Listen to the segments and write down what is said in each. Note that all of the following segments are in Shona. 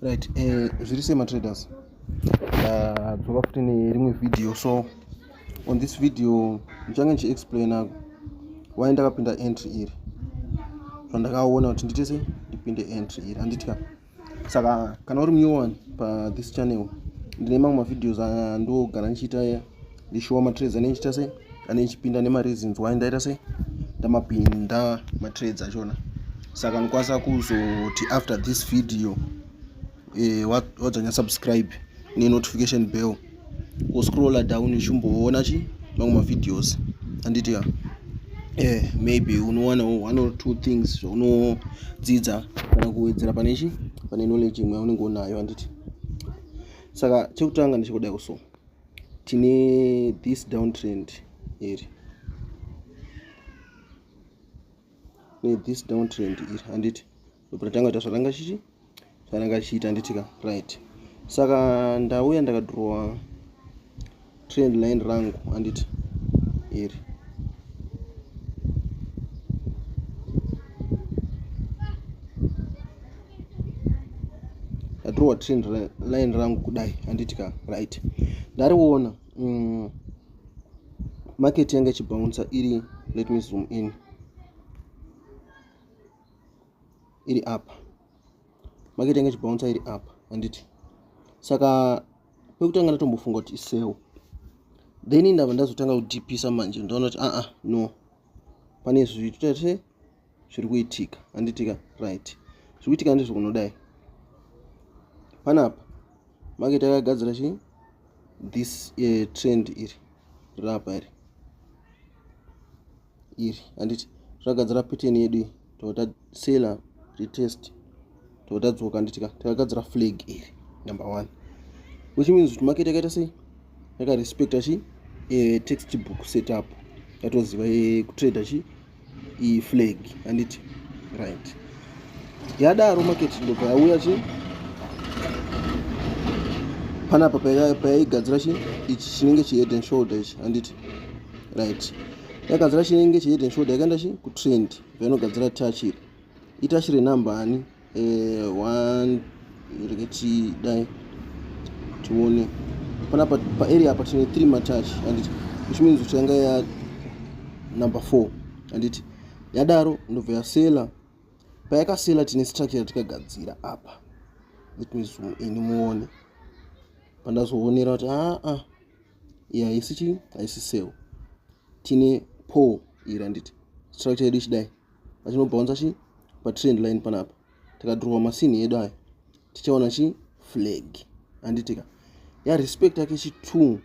right eh, zviri sei matraders ah, dzoka futi nerimwe video so on this video ndichange ndichiexplaina why ndakapinda entry iri zvandakaona kuti ndiite se ndipinde entry iri anditya saka kana uri muyowani pathis channel ndine mamwe mavideos andogara ndichiita ndishuwa matrades anenge chita sei anenge chipinda nemareasons why ndaita sei ndamapinda matrades achona saka ndikwanisa kuzoti after this video eh, wadzanya subscribe nenotification bell kuscrolla down ichimboona chi mamwe mavideos anditi ya eh, maybe unowana one or two things zvaunodzidza kana kuwedzera pane chi pane knowledge imwe yaunenge unayo anditi saka chekutanga ndichikudai kusoma tine this downtrend iri ne this downtrend iri handiti ndopatatanga kuita zvatanga chichi zvatanga chichiita handiti ka right saka ndauya ndakadrowa trend line rangu handiti iri ndatirova trend line rangu kudai handiti ka right ndariona mm, market yanga ichibounsa iri let me zoom in iri apa market yanga ichibounsa iri apa handiti saka pekutanga ndatombofunga kuti iseo then ndava ndazotanga kudipisa manje ndaona kuti aa no pane zvitete zviri kuitika handitika right zviri kuitika ndizvo kunodai panapa maketi akagadzira chii this uh, trend iri rapa iri iri handiti zvagadzira pattern yedu iyi totosela retest totadzoka nditi ka takagadzira flag iri number one which means kuti market yakaita sei yakarespecta chi e, text book setup yatoziva e, kutrader chi iflag anditi right yadaro market ndobva yauya chi panapa payaigadzira chi ichi chinenge chihead and shoulder ichi anditi right yakagadzira chinenge chihead and shoulder yakaenda chi kutrend painogadzira touch iri ita shiri nambani eh, one reketi dai tione panapa paarea apa tine three matach anditi which means kuti yanga ya number four anditi yadaro ndobva yasela payakasela tine structure yatikagadzira apa let me zoom ini muone pandazoonera kuti aa ah, ah, iyi haisi chii haisi sel tine po iri anditi structure yedu ichidai vachinobhaunza chi patrend line panapa tikadhurwa masini edu aya tichaona chi flag handitika ya respect yake chi two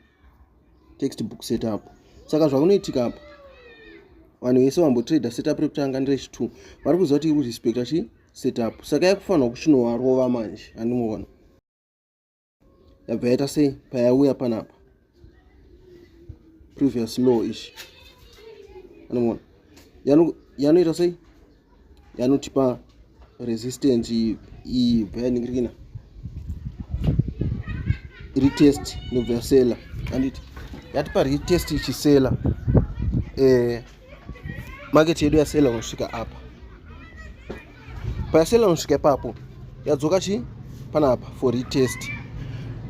text book setup saka zvakunoitika apa vanhu vese vambotrader setup rekutanga nderechi two vari kuziva kuti iri kurespecta chi setup saka yakufanirwa kuchinovarova manje handimuona yabva yaita sei payauya panapa previous law ichi anomona yanoita sei yanotipa resistance iyi bva yaningirikina retest nobva yasela anditi yatipa retest ichisela eh, market yedu yasela unosvika apa payasela unosvika ipapo yadzoka chi panapa for retest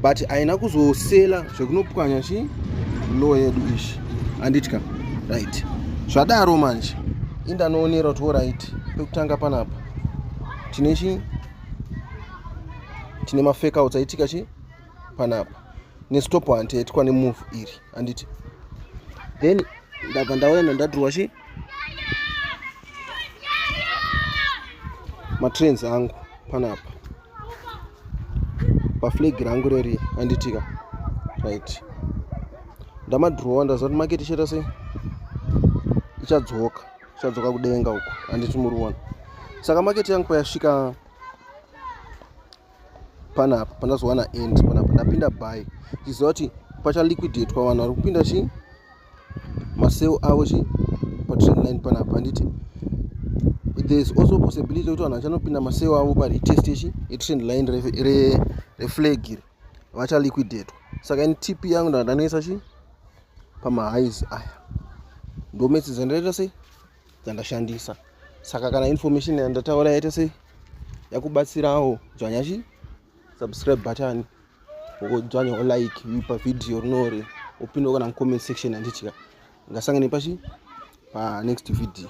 but haina kuzosela zvekunopwanya chi low yedu ishi anditya right zvadaro manje indanoonera kuti orit pekutanga panapa tine chi tine mafekouts aitika chi panapa nestop hanti yaitwa nemove iri handiti then ndabva ndauya nandadhurwa chi matrains angu panapa paflag rangu reri handitika right ndamadhurowa ndaziva kuti maketi ichaita sei ichadzoka ichadzoka kudenga uko handiti muri kuona saka maketi yangu payasvika panapa pandazowana end panapa ndapinda by chiziva kuti pachaliquidetwa vanhu vari kupinda chi maseo avo chi patrend line panapa handiti thereis also possibility yekuti vanhu vachanopinda maseo avo paretest chi etrend line reflag iri vachaliquidetwa saka ini tip yangu ndandanoisa chi pamahighs aya ndometsedzandaita sei dzandashandisa saka kana information yandataura yaita sei yakubatsirawo dzvanya chi subscribe button wodzvanyawo like pa video rinori upindawo kana mucomment section handitya ngasangane pachi pa next video